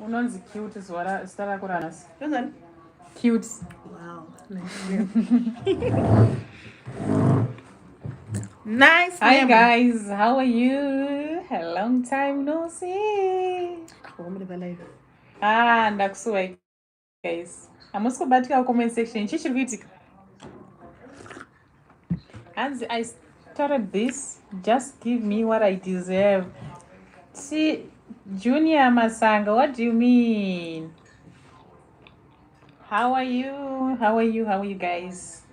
Unonzi cute zuva zita rako ranasi. Ndozani? Cute. Wow. nice. Hi name. guys, how are you? A long time no see. Ah, ndakusuwa guys hamusi kubatika comment section chii chiri kuitika hanzi i started this just give me what i deserve si junior masanga what do you mean how are you how are you how are you guys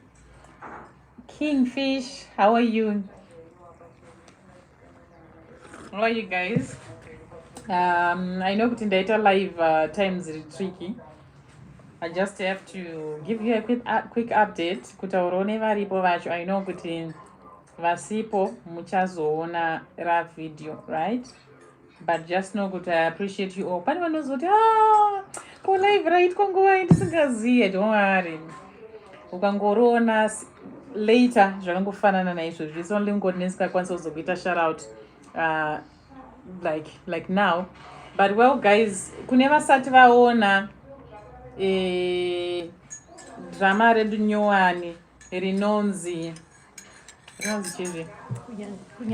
kingfish how are you How are you guys? Um, I know kuti ndaita live uh, times iri tricky. I just have to give you a quick, uh, quick update kutaurawo nevaripo vacho. I know kuti vasipo muchazoona ra video, right? but just know kuti i appreciate you all pane vanozoti ah, ko live raitwa nguva i ndisingazive don't worry ukangoriona later zvakangofanana naizvozvo its only ngoti nesingakwanisa kuzokuita sharout uh, like like now but well guys kune vasati vaona eh, drama redu nyowani rinonzi rinonzi chii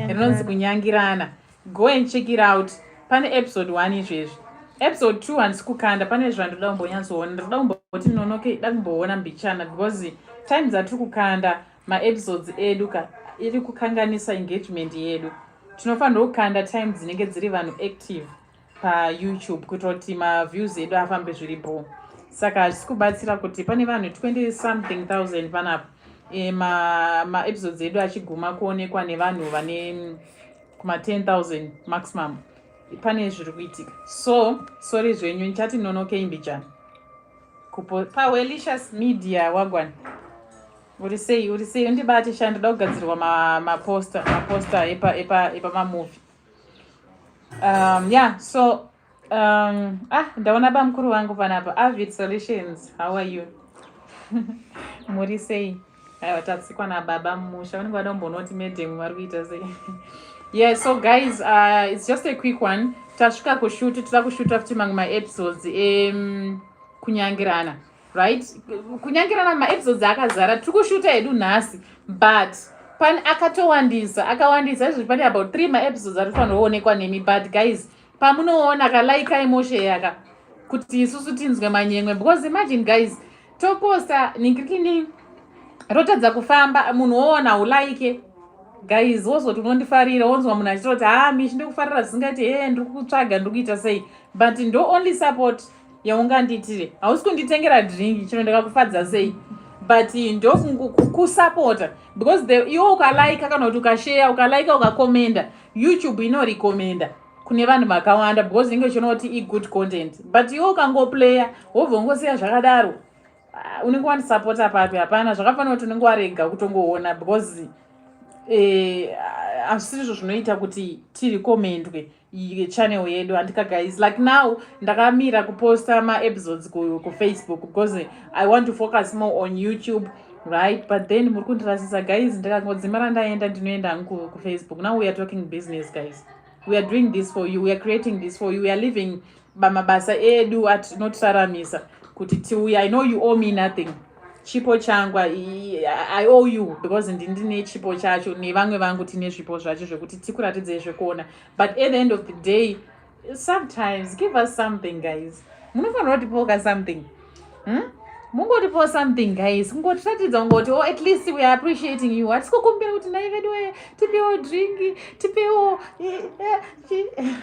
rinonzi kunyangirana go and check it out pane episode one izvezvi episode two handisi kukanda pane zvandoda kumbonyatsoona ndirikuda kumboti nonoke da kumboona mbichana because time dzatiri kukanda maepisodes edu ka iri kukanganisa engagement yedu tinofanirwa kukanda time dzinenge dziri vanhu active payoutube kuitira kuti maviews edu afambe zviri bho saka hazvisi kubatsira kuti pane vanhu 20 something thousand panapa e, maepisodes ma edu achiguma kuonekwa nevanhu vane kuma 10 000 maximum pane zviri kuitika so sori zvenyu ndichati nonokei mbijana pawelishes media wagwana uri sei uri sei undibate sha ndoda kugadzirwa maposta maposta epamamovie epa, epa um, yeah so um, ah ndaona bamukuru vangu panapa avid solutions how are you muri sei aiwa tatsikwa nababa mumusha vanenge vada kumbonoti madam vari kuita sei yeah so guys uh, it's just a quick one tasvika kushuti toda kushuta futi mamwe maepisodes ekunyangirana um, right kunyangirana maepisodes akazara tiri kushuta hedu nhasi but pani akatowandisa akawandisa izvozvi pane about three maepisodes ari kufanira kuonekwa nemi but guys pamunoona kalaikai moshe yaka kuti isusu tinzwe manyemwe because imagine guys toposta ningirikini rotadza kufamba munhu woona ulaike guys wozoti unondifarira wonzwa munhu achitoti ha ah, mishi ndikufarira zvisingaiti hee ndiri kutsvaga ndiri kuita sei but ndo only support yaunganditire hausi kunditengera drink chino ndakakufadza sei but ndokusapota because the iwo ukalaika kana kuti ukasheya ukalaika ukakomenda youtube inorekomenda kune vanhu vakawanda because inenge uchiona kuti igood content but iwo ukangoplaya wobva ungosiya zvakadaro ah, unenge wandisapota papi hapana zvakafanira kuti unenge warega kutongoona because eh, hazvisizvo zvinoita kuti tirekomendwe channel yedu andika guys like now ndakamira kuposta maepisodes kufacebook ku because i want to focus more on youtube right but then muri kundirasisa guys ndikangodzima randaenda ndinoenda hangu kufacebook now we are talking business guys we are doing this for you we are creating this for you we are living bamabasa edu atinotisaramisa kuti tiuya i know you owe me nothing chipo changu i owe you because ndine chipo chacho nevamwe vangu tine zvipo zvacho zvekuti tikuratidzei zvekuona but at the end of the day sometimes give us something guys munofanira kutipoka something hmm? mungotipo something guys kungotiratidza kungoti o oh, at least weare appreciating you hatisi kukumbira kuti nai vedu wee tipewo dringi tipewo eh, eh,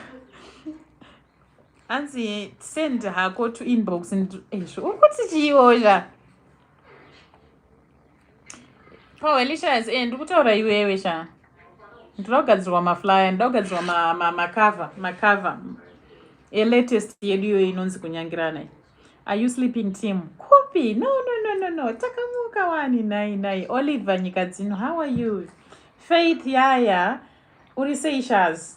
hanzi send hako to inbox ezvo uri kuti chiiozha pawelisha se ndi kutaura iwewe sha ndinoda kugadzirwa maflyer ndinoda kugadzirwa macove macove elatest yedu iyoyo inonzi kunyangirana i are you sleeping team kupi no no no no no takamuka wani nai nai oliver nyika dzino how are you faith yaya uri sei shaz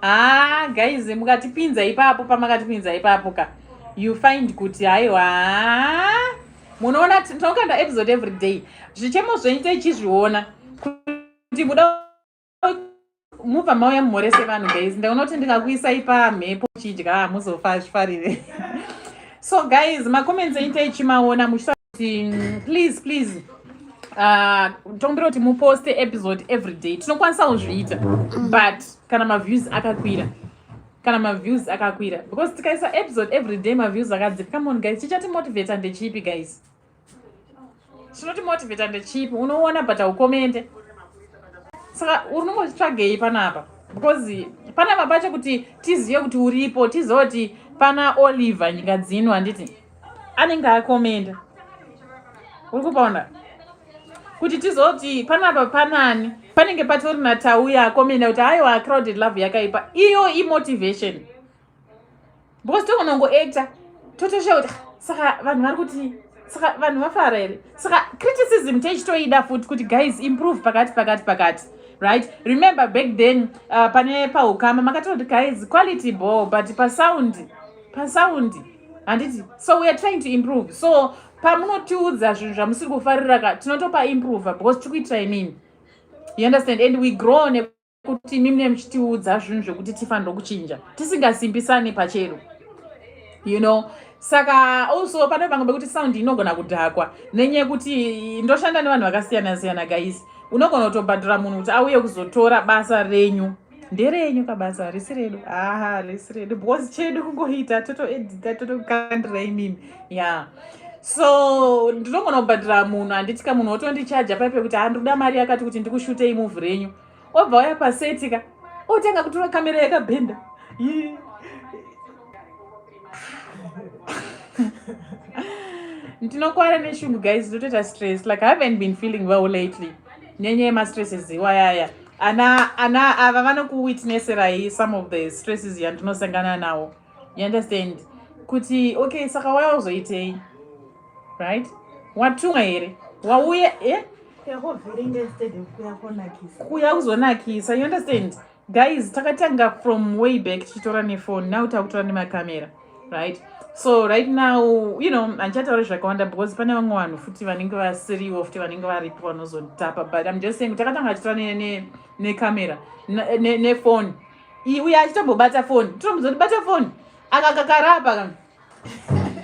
haa guys mukatipinza ipapo pamakatipinza ipapo ka you find kuti haiwa munoona tinokanda episode every day zvichemo zvenyu techizviona kuti muda mubva mauya mumhorese vanhu guys ndaunoti ndikakuisai pamhepo chidya hamuzofa zvifarire so guys macomments enyu teichimaona muchita kuti mm, please please Ah, tombira kuti muposte episode every day tinokwanisa kuzviita but kana maviews akakwira kana maviews akakwira because tikaisa episode every day maviews akadzika come on guys chichatimovata ndechipi guys chinotimovata ndechipi unoona but aukomende saka unongotsvagei panapa because panapa pacho kuti tizive kuti uripo tizive kuti pana oliver nyika dzino handiti anenge akomenda uri kupaona kuti tizoti panapa panani panenge patori natauya akomenda kuti aiwa crowded love yakaipa iyo imotivation because tokonongo acta totosha kuti saka vanhu vari kuti saka vanhu vafara here saka criticism teichitoida futi kuti guys improve pakati pakati pakati right remember back then uh, pane paukama makatoti guys quality ball but pasound pasound handiti so weare trying to improve so pamunotiudza zvinhu zvamusiri kufarira ka tinotopa improve because tiri kuitira imini you understand and we grow nekuti imi mune muchitiudza zvinhu zvekuti tifanira kuchinja tisingasimbisani pachero you know saka also pane vamwe vekuti sound inogona kudhakwa nenyaya yekuti ndoshanda nevanhu vakasiyana siyana guys unogona kutobhadhura munhu kuti auye kuzotora basa renyu nderenyu kabasa harisi redu haa harisi redu because chedu kungoita totoedita totokandira imimi ya yeah. so ndinogona kubhadhira munhu handitya munhu otondichaja pai pekuti handikuda mari yakati kuti ndikushutei muvhu renyu obva waya pasetika otanga kutora kamera yakabhenda ndinokwara neshungu guys ndotoita stress like i haven't been feeling well lately nyenyaya yemastresses iwayaya ana ana ava vanokuwitnesserai some of the stresses yandinosangana nawo you understand kuti okay saka waya uzoitei right watumwa here wauye eh? kuya kuzonakisa you understand guys takatanga from way back tichitora nefone now takutora nemakamera right so right now you know handichataure zvakawanda because pane vamwe vanhu futi vanenge vasiriwo futi vanenge varipo vanozotapa but im just saying kuti akatanga achitaura necamera nefoni iyi uye achitombobata foni titombozoti bata foni akakakarapa ka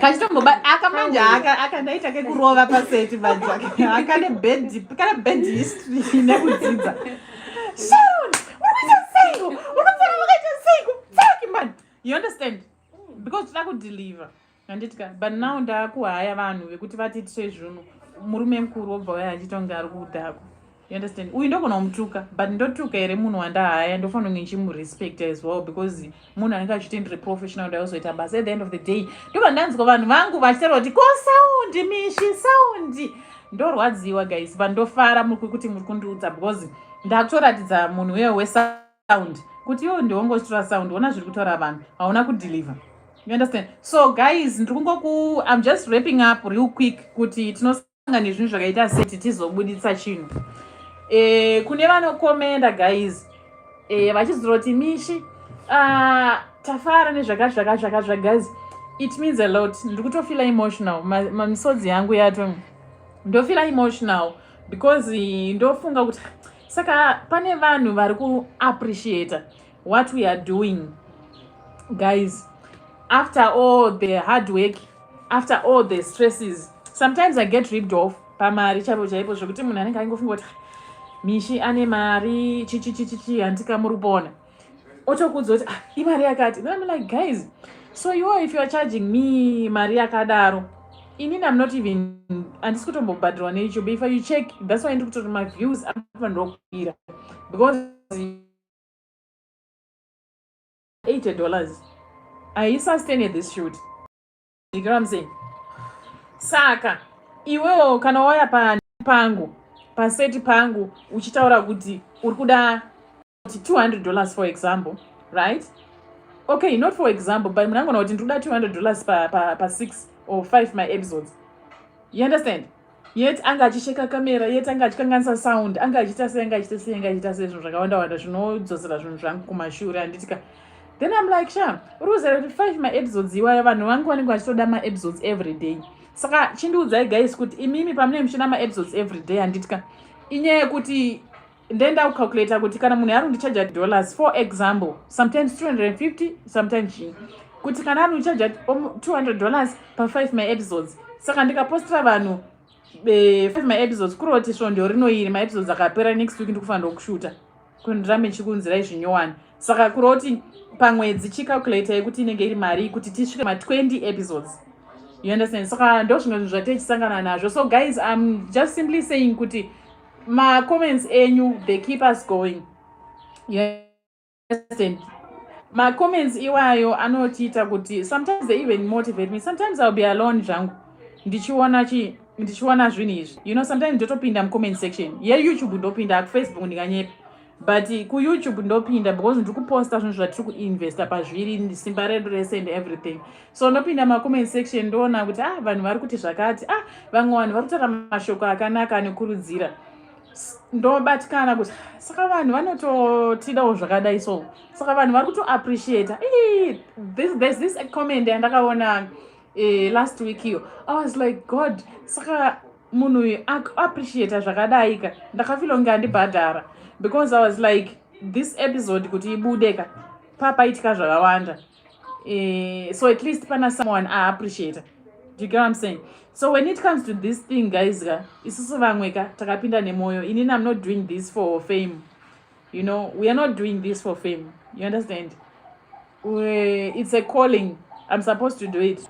kachitombobata aka manje aka aka ndaita kekurova paseti manje akane bed kana bed history nekudzidza sharon unoita seiko unofana vakaita seiko tsaki manje you understand mm. because tida kudeliver handitika but now ndakuhaya vanhu vekuti vatiitise zvunhu murume mukuru wobva waya achitonge ari kudhako you understand uyu ndogona kumutuka but ndotuka here munhu wandahaya ndofanira kunge ndichimurespect as well because munhu anenge achiita ndiri professional ndayozoita basa at the end of the day ndobva ndanzwa vanhu vangu vachitaura kuti ko saundi mishi saundi ndorwadziwa guys but ndofara muri kuti muri kundiudza because ndakutoratidza munhu uye wesa sound kuti iwe ndiwe ungotora sound ona zviri kutaura vanhu hauna kudeliver you understand so guys ndiri kungoku im just wrapping up real quick kuti tinosanga nezvinhu zvakaita seti tizobuditsa chinhu e, kune vanokomenda guys e, vachizoroti mishi uh, tafara nezvakazvakazvakazva guys it means a lot ndiri kutofila emotional mamisodzi yangu yato ndofila emotional because ndofunga kuti saka pane vanhu vari kuappreciata what we are doing guys after all the hard work after all the stresses sometimes i get ripped off pamari chaipo chaipo zvekuti munhu anenge aingofunga kuti mishi ane mari chichichichichi handikamuri kupona otokuudza kuti ah, imari yakati then I'm like guys so you if you are charging me mari yakadaro inini am not even handisi kutombobhadhirwa necho but if you check that's why ndikuti kuti maviews anofanirwa kukwira because eighty dollars aisustain this shoot you know what I'm saying saka iwewo kana wauya pangu paseti pangu uchitaura kuti uri kuda 200 dollars for example right okay not for example but muna ngona kuti ndikuda 200 dollars pa, pa, pa 6 or 5 my episodes you understand yet anga achisheka kamera yet anga achikanganisa sound anga achiita sei anga achiita sei anga achiita sei zvinhu zvakawanda wanda zvinodzosera zvinhu zvangu kumashure handitika then i'm like sha uri kuzara kuti 5 my episodes iwaya vanhu vangu vanenge vachitoda ma episodes every day saka chindiudzai guys kuti imimi pamunenge muchina ma episodes every day handitika inyaya yekuti then ndaucalculator kuti kana munhu yarundichaja dollars for example sometimes 250 sometimes chii kuti kana anondichaja 200 dollars pa5 maepisodes saka ndikapostira vanhu eh, five maepisodes kureva kuti svondo rino iri maepisodes akapera next week ndikufanira kushuta kundirambe chikunzira izvi nyowani saka kureva kuti pamwedzi chicalculator yekuti inenge iri mari kuti tisvike ma20 episodes you understand saka ndo zvimwe zvinhu zvatechisangana nazvo so guys im just simply saying kuti Ma comments enyu they keep us going. Yes. Ma comments iwayo anotiita kuti sometimes they even motivate me. Sometimes I'll be alone zvangu ndichiona chi ndichiona zvinhu izvi. You know sometimes ndotopinda mu comment section. Ye YouTube ndopinda ku Facebook ndikanyepa. but kuyoutube ndopinda because ndiri kuposta zvinhu zvatiri kuinvesta pazviri simba redu rese and everything so ndopinda macomment section ndoona kuti ah vanhu vari kuti zvakati ah vamwe vanhu vari kutaura mashoko akanaka anokurudzira ndobatikana kuti saka vanhu vanototidawo zvakadai so saka vanhu vari kutoappreciata this, this, this comment yandakaona uh, last week iyo i was like god saka munhu uyu akuappreciata zvakadaika ndakafila kunge andibhadhara because i was like this episode kuti ibude ka papaitika zvakawanda eh, so at least pana someone aappreciata do you get what i'm saying so when it comes to this thing guys ka isusu vamwe ka takapinda nemwoyo inini i'm not doing this for fame you know we are not doing this for fame you understand we, it's a calling i'm supposed to do it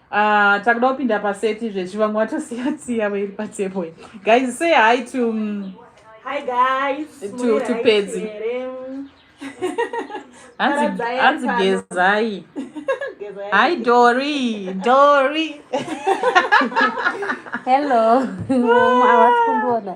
Ah, takuda kupinda paseti zvezvi vamwe vatosiya tsiya vairi patable guys say hi to um, hi guys to, to pedzi hanzi gezai hi dori dori hello havasi kundiona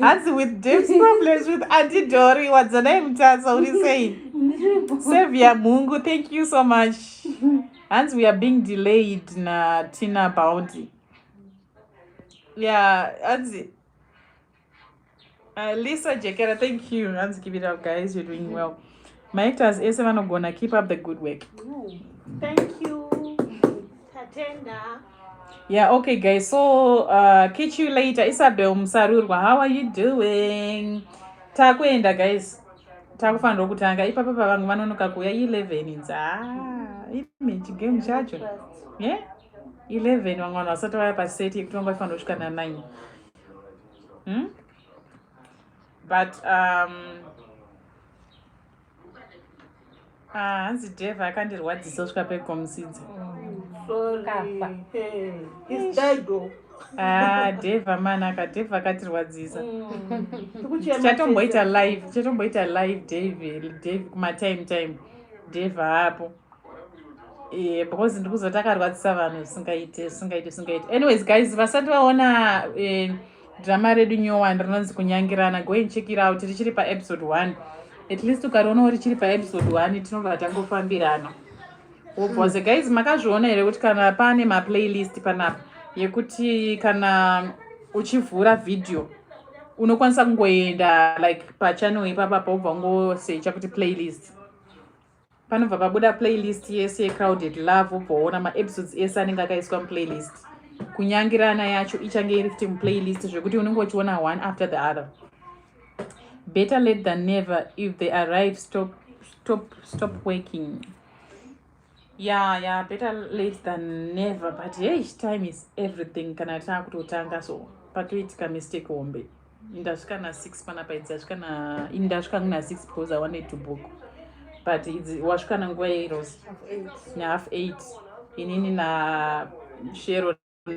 hanzi with deps problems with antidori wadzanai mutasa uri sei sevia mhungu thank you so much hanzi we are being delayed natina bounty yeah hanzi uh, lisa jekera thank you hanzi give it up guys you're doing well Maactors ese vanogona keep up the good work. Thank you. Tatenda. Yeah, okay guys. So uh, catch you later. Isabel Musarurwa, how are you doing? Takuenda guys. Takufanira kutanga ipapa pavangu vanonoka kuuya 11 inza. Ah, image game chacho. Yeah? 11 vamwe vanhu vasati vaya paseti yekutongwa ifanira kusvika na 9. Hmm? But um Ah, hanzi deve akandirwadzisa kusvika pekomusidza ah, deve amanaka deve akatirwadzisa mm. tichatomboita live tichatomboita live dave dave kumatime time deve apo eh, because ndikuzotakarwadzisa vanhu zvisingaite zvisingaite zvisingaite anyways guys vasati vaona eh, drama redu nyowani rinonzi kunyangirana go and check it out richiri paepisode one at least ukarionawo richiri paepisode one tinobva tangofambirana wobvose mm. guys makazviona here kuti kana pane maplaylist panapa yekuti kana uchivhura vhidhiyo unokwanisa kungoenda like pachanel ipapa paubva ungosecha kuti playlist panobva pabuda playlist yese yecrowded love wobvaona maepisodes ese anenge akaiswa muplaylist kunyangirana yacho ichange iri fti muplaylist zvekuti unenge uchiona one after the other better let than never if they arrive stop, stop, stop working ya ya better late than never but hey time is everything kana taakutotanga so patoitika mistake hombe ndasvika na six panapa idzi asvika na ini ndasvika kuna six because i wanted to book but idzi wasvika na nguva yeiros na half eight inini na shero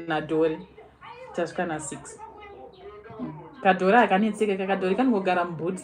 na dori tasvika na six mm. kadhori akanetseka kakadhori kanongogara mubhuti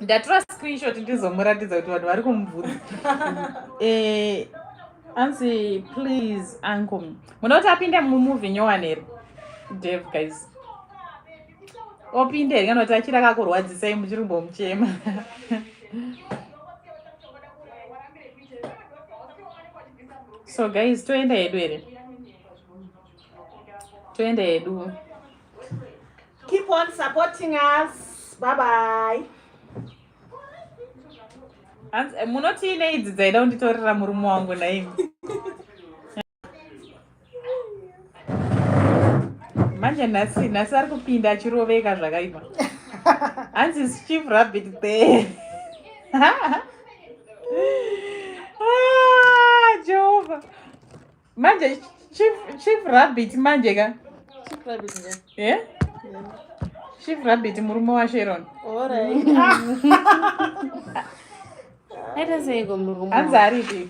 ndatora screenshot ndizomuratidza kuti vanhu vari kumubvunza eh, anzi please uncle muda kuti apinde mumuvi nyowani here dev guys opinde here kana kuti achiri akakurwadzisai muchiri kumbomuchema so guys toenda hedu here toenda hedu keep on supporting us bye bye eh, munotii neidzi dzaida kunditorera murume wangu naimi manje nhasi nhasi ari kupinda achiroveka zvakaipa hanzi chief rabbit there ah, jehovha manje chief, chief rabbit manje ka chief rabbit nga yeah? yeah. chief rabbit murume washeron aita seiko murume hanzi aripi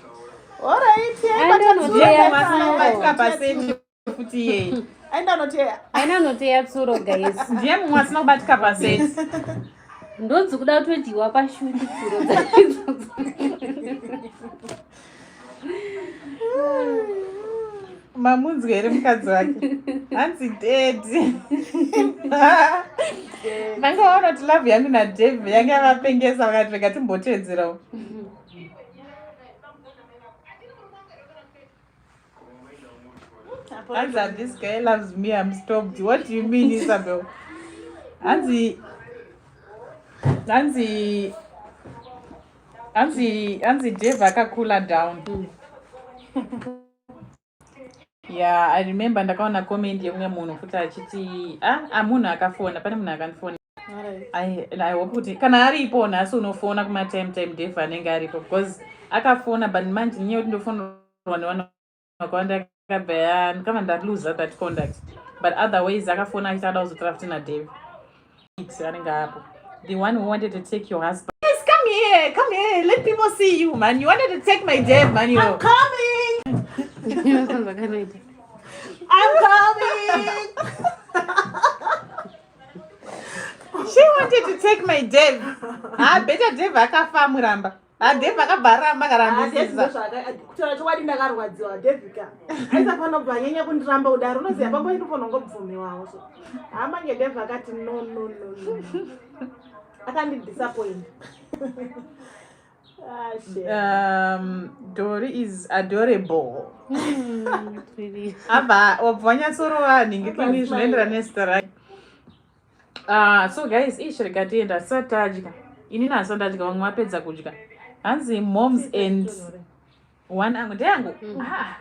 aenda anoteya tsuro guys ndiye mumwe asina kubatika paseti ndodzi kuda kutodyiwa pashundi tsuro mamunzwa here mukadzi wake hanzi dedi vanga vaona kuti love yangu nadave yange yavapengesa vakati rega timboteedzerawo As that this guy loves me, I'm stopped. What do you mean, Isabel? Anzi, Anzi, Anzi, Anzi Dave akakula down. Mm. yeah, I remember ndakaona comment yemumwe munhu futi achiti ah, ah munhu akafona, pane munhu akandifonera. i hope kuti kana aripo nhasi unofona kumatime time dev anenge aripo because akafona but manje nyaya kuti ndofonerwa nevanhu vakawanda akabva kama ndaluza that conduct but otherwise akafona achiti ada kuzotora futi nadev anenge apo the one who wanted to take your husband yes, come here come here let people see you man you wanted to take my dev man you I'm coming I'm coming She wanted to take my dev. Ah, better dev akafa muramba. Ah, dev akabva aramba karamba sisa. Kutaura chokwadi ndakarwadziwa dev ka. Aisa pano bva nyanya kundiramba kudaro unoziva pambo yedu pano ngobvumiwawo so. Ah, mange dev akati no no no. no. Akandi disappoint. Ah, um, dori is adorable hmm, apa wabva wanyatsorova hanhingi kini zvinoenderana nezita rake ah, so guys ish rikatienda hatisati tadya inini hasati ndadya vamwe vapedza kudya hanzi moms and one angu ndeyangu hmm. ah,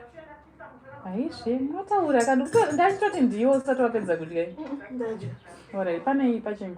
aizve mataura kandikutoti ndachitoti ndiyo usati wapedza kudya hmm, orit panei pachingu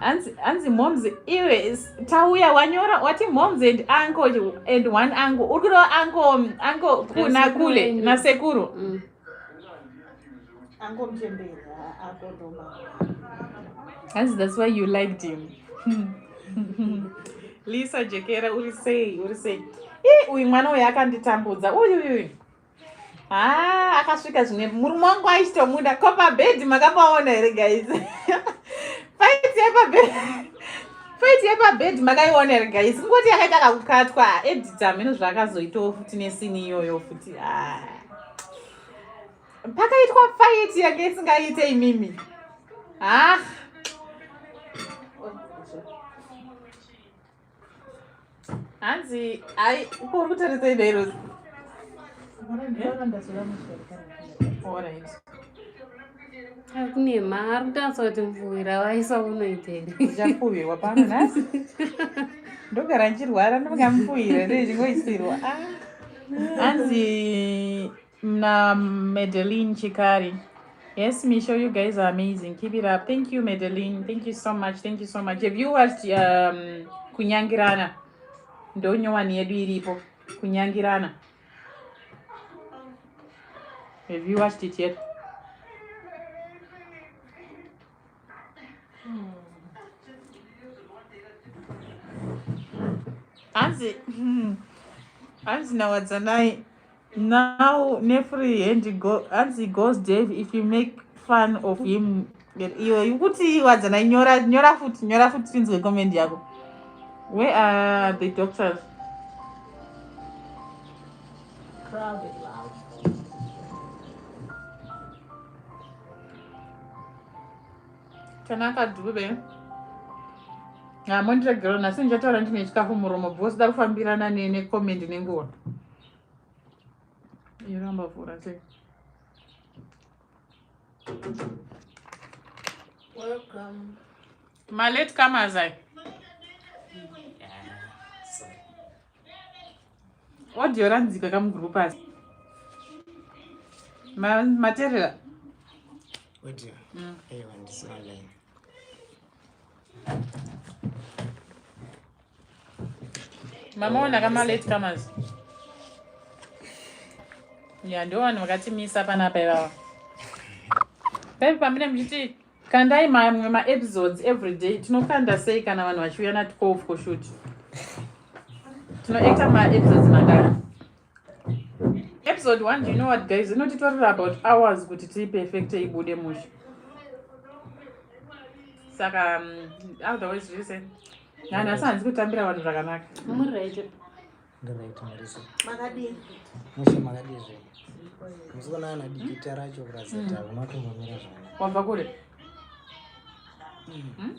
hanzi hanzi moms iwe tauya wanyora wati moms and uncle and one uncle uri kureva uncle uncle kuna kule nasekuru mm. hanzi that's why you liked him lisa jekera uri sei uri sei ii uyu mwana uyu akanditambudza uyuyuyu haa ah, akasvika zvine murume wangu aisitomuda ko pabhedhi makapaona here guys faiti yepabhedhi faiti yepabhedhi makaiona here guys kungoti yakaita kakukatwa edita hameno zvaakazoitawo futi nesini iyoyo futi ah. pakaitwa faiti yake isingaite imimi ah hanzi ai uko uri kutaridza idai rozi Alright. kune mari kutanisa kuti mvuwira waisa unoita here ndichafuwirwa pano nhasi ndogara ndichirwara ndingamufuwira ndichingoisirwa hanzi na Madeline Chikari. Yes, Misho, you guys are amazing. Keep it up. Thank you, Madeline. Thank you so much. Thank you so much. Have you watched um, Kunyangirana? Ndonyowani yedu iripo. Kunyangirana. Have you watched it yet? Hanzi, hmm. hanzi nawadzanai Now nefree hand go as he goes Dave if you make fun of him iwe ikuti wadzana nyora nyora futi nyora futi tinzwe comment yako where are the doctors crowded loud tanaka dube hamondiregero nhasi ndichataura ndine chikafu muromo bhosi da kufambirana necomment nenguva iramba vhura sei welcome malate comers ai audio ranzika kamugroup asi materera audio mm. aiwa ndisina line mama ona kama late comers ya ndo vanhu vakatimisa panapa ivava paive pamine muchiti kandai mamwe maepisodes every day tinokanda sei kana vanhu vachiuya natikof koshut tinoita maepisodes mangani episode one do you know what guys inotitorera about hours kuti tiiperfecte ibude mushe saka um, otherwise zvese nani asi hanzi kutambira vanhu zvakanaka wabva kure hmm?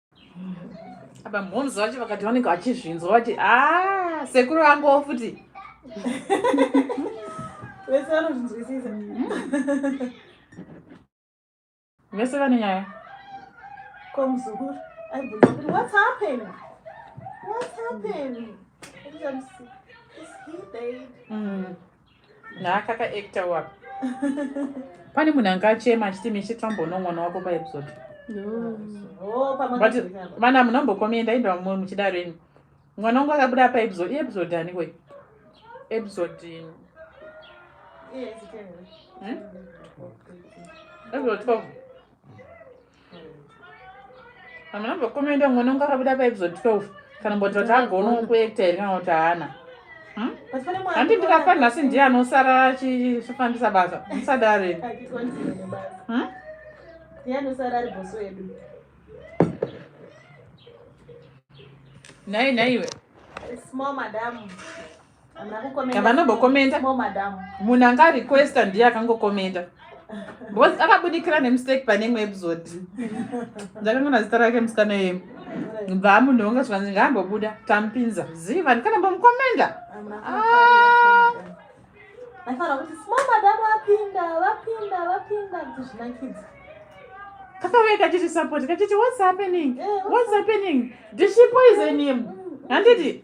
apa mhonzi vacho vakati vanenge vachizvinzwa vati a ah, sekuru vangowo futi vese vanozvinzwisisa vese vane nyaya ko muzukuru aibvunza kuti whats happen whats happen mm. naakaka actor wapa pane munhu anga achema achiti mishe tamboona mwana wako paepisode oh, but vana munhu ambokomenda inda mumwe muchidaro ini mwana wangu akabuda paepisode iepisode aniko episode hmm? episode twelve Kana mwana mbokomenda mwana unga akabuda pa episode 12 kana mboti vati agona kuekta here kana kuti haana hmm? handi ndikafa nhasi ndiye anosara achifambisa basa musadare hmm? nhai nhaiwe vanobokomenda munhu anga requesta ndiye akangokomenda because akabudikira nemistake pane imwe episode ndakangona zita rake musikana yemu bva munhu wonge zvikanzi ngaambobuda tamupinza ziva ndikana mbomukomenda ah. kakauya kachiti support kachiti what's happening eh, what's happening did she poison him handiti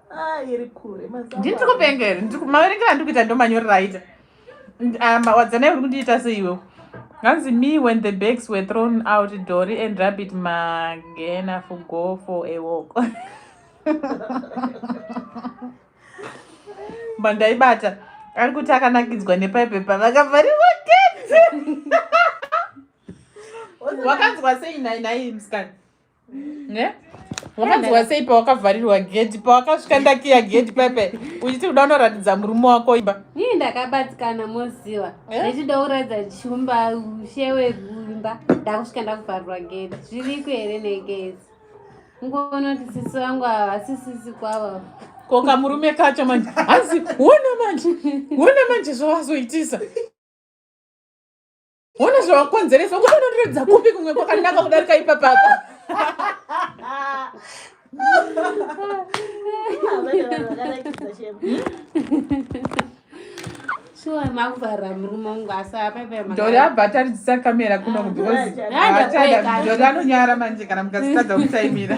Ah, iri kure mazamu. Ndiri kupenga here? Ndiri maverengera ndiri kuita ndomanyorera aita. Ah, wadzana uri kundiita sei iwewe? Nganzi me when the bags were thrown out Dori and Rabbit magena for go for a walk. Bandaibata ari kuti akanakidzwa nepaipe pavakavharirwa gate. Wakanzwa sei nai nai mskana? ne wakanzwa sei pawakavharirwa gedhi pawakasvika ndakiya gedhi pepe uchiti kuda unoratidza murume wako imba ii ndakabatikana moziva eh? ndechida kuratidza chumba ushe wekuimba ndakusvika ndakuvharirwa gedhi zviriko here negezi ngonoti sisi vangu ava vasisisi kwavo ko kamurume kacho manje hanzi wona manje wona manje zvavazoitisa Hona zvawakonzeresa ukuti unondiratidza kupi kumwe kwakanaka kudarika ipapaka sure makuvharira murume wangu asi apaipaitori abva ataridzisa kamera kuno kubecausejori anonyara manje kana mukazitadza kutaimira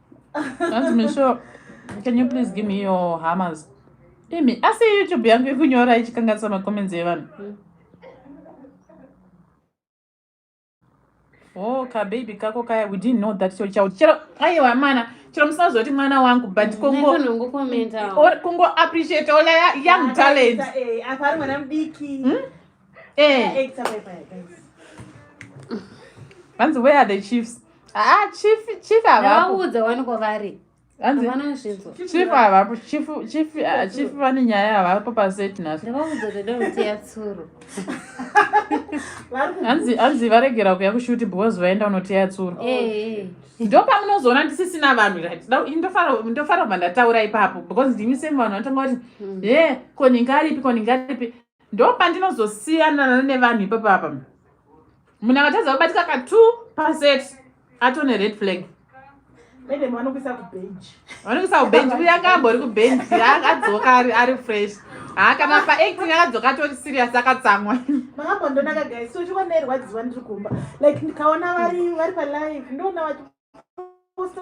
Hanzi Misho, can you please give me your hammers? Imi, asi YouTube yangu ikunyora ichikanganisa macomments evanhu. Mm. Oh, ka baby kako kaya, we didn't know that your child. Chero, aiwa mana, chero musazoti mwana wangu, but mm, kungo... Nekunongo commenta. Kungo appreciate all young talents. Eh, apari mwana mdiki. Hmm? vanzi where are the chiefs aa ah, chief chief avaudza waniko vari chief havapo chief ah, chief vane nyaya havapo paseti nasoatsuru hanzi varegera kuya kushuti because vaenda unoteya tsuro eh, eh. ndo pamunozoona ndisisina vanhu ndofara kubva ndataura ipapo because ndimi semu vanhu vanotanga kuti hmm. ye eh, ko ninga aripi ko ninga aripi ndopandinozosiyanana nevanhu ipapo apa munhu akatadza kubatika ka two percent atone red flag vanokuisa kubenji uya kambori kubenji akadzoka ari fresh haa kana paacting akadzoka atori serious akatsamwa makambondonaka guys so chiko ndairwadziwa ndiri kumba like ndikaona vari vari palive ndoona vachiposta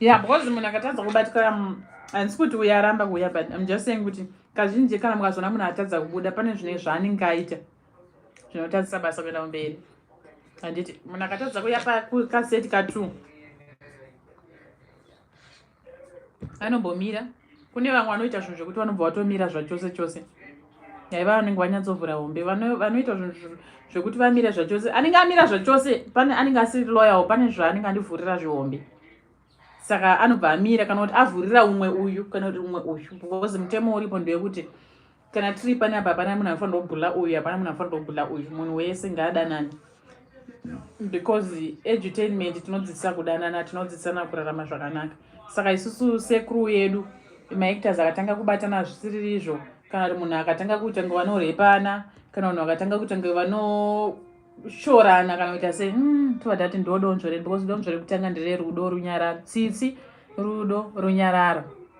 yeah because munhu akatadza kubatikira handisi kuti uya aramba kuuya but im just saying kuti kazhinji kana mukazoona munhu atadza kubuda pane zvine zvaanenge aita zvinotadzisa basa kuenda kumberi handiti munhu akatadza kuya pakaseti katwo vanombomira kune vamwe vanoita zvinhu zvekuti vanobva vatomira zvachose chose yaiva vanenge vanyatsovhura hombe vanoita zvinhu zvekuti vamire zvachose anenge amira zvachose pane anenge asiri loyawo pane zvaanenge andivhurira zvihombe saka anobva amira kana kuti avhurira umwe uyu kana kuti umwe uyu because mutemo uripo ndewekuti kana tiri pane apa hapana munhu anofanira kubhula uyu hapana munhu anofanira kubhula uyu munhu wese ngaadanani because edutainment tinodzidzisa kudanana tinodzidzisana kurarama zvakanaka saka isusu sekuru yedu maactors akatanga kubatana zvisiri izvo kana kuti munhu akatanga kuita ngo vanorepana kana vanhu vakatanga kuita ngo vanoshorana kana kuita sei hmm, tova tati ndo donzvo redu because donzvo rekutanga ndererudo runyararo tsitsi rudo runyararo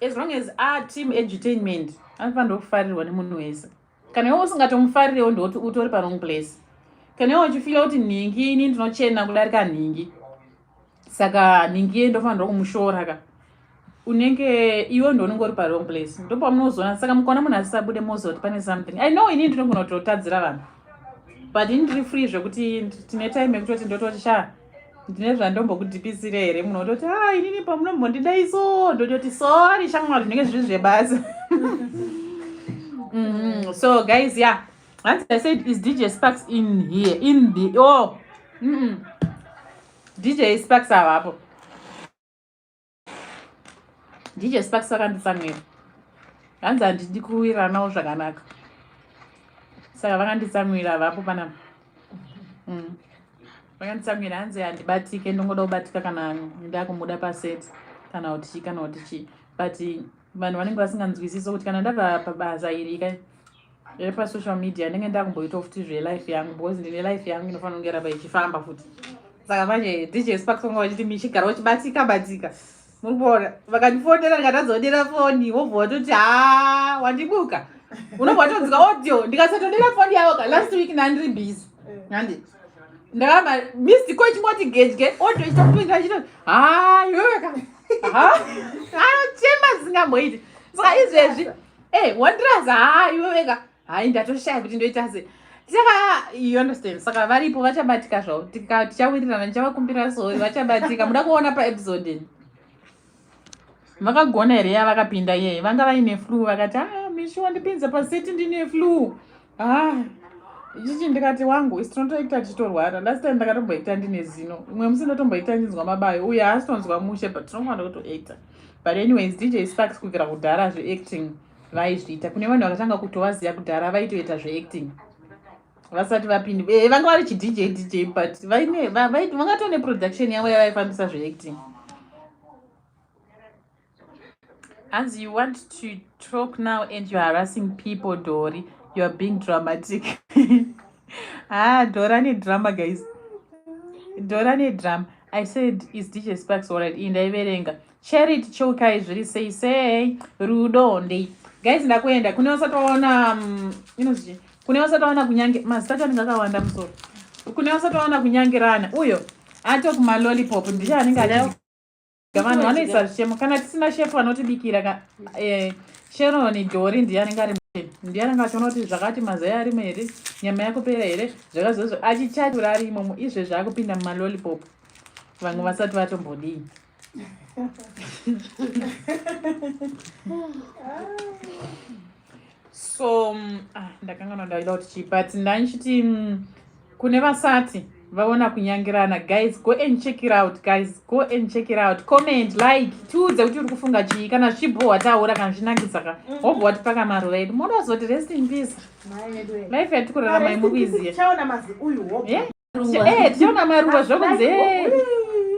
as long as a team edutainment anofanira kufarirwa nemunhu wese kana iwe usingatomufarirewo ndoti utori parong place kana iwe uchifila kuti nhingi ini ndinochena kudarika nhingi saka nhingi ye ndofanirwa kumushora ka unenge iwe ndounenge uri parong place ndopamunozoona saka mukaona munhu asisabude moziva kuti pane something i know ini ndinogona kutotadzira vanhu but ini ndiri free zvekuti tine time yekutoti ndototi shaa ndine zvandombokudipisira here munhu ototi a ah, inini pamunombondida iso ndototi sori shamwari zvinenge zviri zvebasa mm-hmm. so guys ya yeah. as i said is dj sparks in here in the oh mm -mm. dj sparks avapo dj sparks vakanditsamwira hanzi handidi kuwiranawo zvakanaka saka vakanditsamwira vapo panapa mm. vakanditsamwira hanzi handibatike ndongoda kubatika kana ndakumuda paset kana kuti chii kana kuti chii but vanhu vanenge vasinganzwisisi kuti kana ndava pabasa iri ka repasocial media ndenge ndakumboitawo futi zvelife yangu because ndine life yangu inofanira kunge ramba ichifamba futi saka manje dj sparks vanga vachiti michigara uchibatika batika muri kuona vakandifonera ndikatadzodera foni wobva watoti ha wandibuka unobva watonzika audio ndikasatodera foni yavo ka last week nandiri busy handi ndakamba misi ko chingoti gedye audio ichitopinda chito ha iweweka ha chemba zisingamboiti saka izvezvi Hey, eh, wonders haa iwe wega hayi ndatoshaya kuti ndoita se saka you understand saka varipo vachabatika zvavo tichawirirana ndichavakumbira sori vachabatika muda kuona paepisode vakagona here yavakapinda iyeye vanga vaine flu vakati a ah, mishi wandipinza paseti ndine flu ah ichichi ndikati wangu isi tinotoita tichitorwara last time ndakatomboita ndine zino imwe musi ndotomboita ndinzwa mabayo uye haasi tonzwa mushe but tinofanira kutoita but anyways dj sparks kubvira kudhara zveacting vaizviita kune vanhu vakatanga kutovaziva kudhara vaitoita zveacting vasati vapindi eh, vanga vari chidj dj but vangatone production yavo yavaifambisa zveacting Hanzi you want to talk now and you're harassing people, Dori. You're being dramatic. ah, Dora need drama, guys. Dora need drama. I said, is DJ Sparks alright? In the Iberenga. Share it, choka, is really say, say, Rudo, ndi. Guys, ndakuenda. Kune wasati waona, um, you know, kune wasati waona kunyange, mazita chani kakawanda musoro. Kune wasati waona kunyangirana. Uyo, ato kuma lollipop, ndisha anenge vanhu vanoisa zvichemo kana tisina shefu vanotibikira ka eh, sheroni dhori ndiye anenge ari ndiye anenge achiona kuti zvakati mazai arimo here nyama yakupera here zvakazozo achichachura ari imomo izvezvi akupinda mumalolipop vamwe vasati vatombodii so mm, ah, ndakanganwa ndaida kuti chii but ndandichiti mm, kune vasati vaona kunyangirana guys go and check it out guys go and check it out comment like tiudze kuti uri kufunga chii kana zvibhohwa taura kana zvinakisa ka mhm. hobho watipaka maruva edu moda kuzoti rest in peace life yatiri kurarama imukuiziya tichaona maruva zvokunzi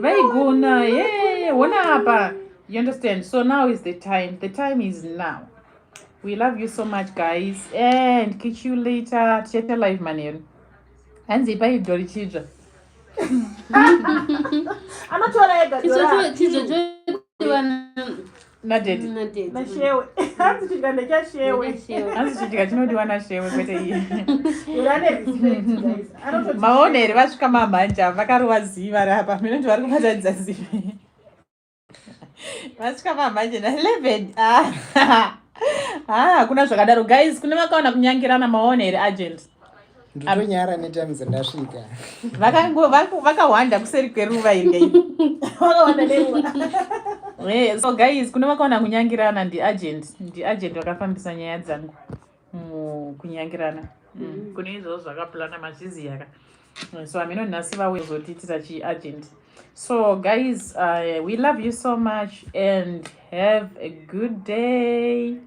vaigona ye hona apa you understand so now is the time the time is now we love you so much guys and catch you later tichaita live manheru hanzi ipai idzo richidzva anotora ega nadedinashewe hanzi chidya ndechashewe hanzi chidya chinodiwa nashewe kwete iye maoneri vasvika mamhanja vakarova ziva rapa minoti vari kubatadza zivi vasvika pamanje na 11 ah, ah, hakuna zvakadaro guys kune vakaona kunyangirana maona here agent nditonyara netimes ndasvika vakahwanda kuseri kweruva iri so guys kune vakaona kunyangirana ndiagent ndiagent vakafambisa nyaya dzangu mukunyangirana mm. mm. kune izvozvo zvakapulana mazviziyaka so amino nhasi vawezotiitira chiagent so guys uh, we love you so much and have a good day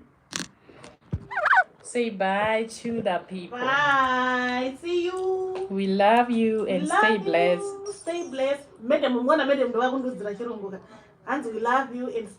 say bye to the people bye see you we love you and love stay blessed you. stay blessed madam mwana madam ndovakundudzira chirongoka hanzi we love you and stay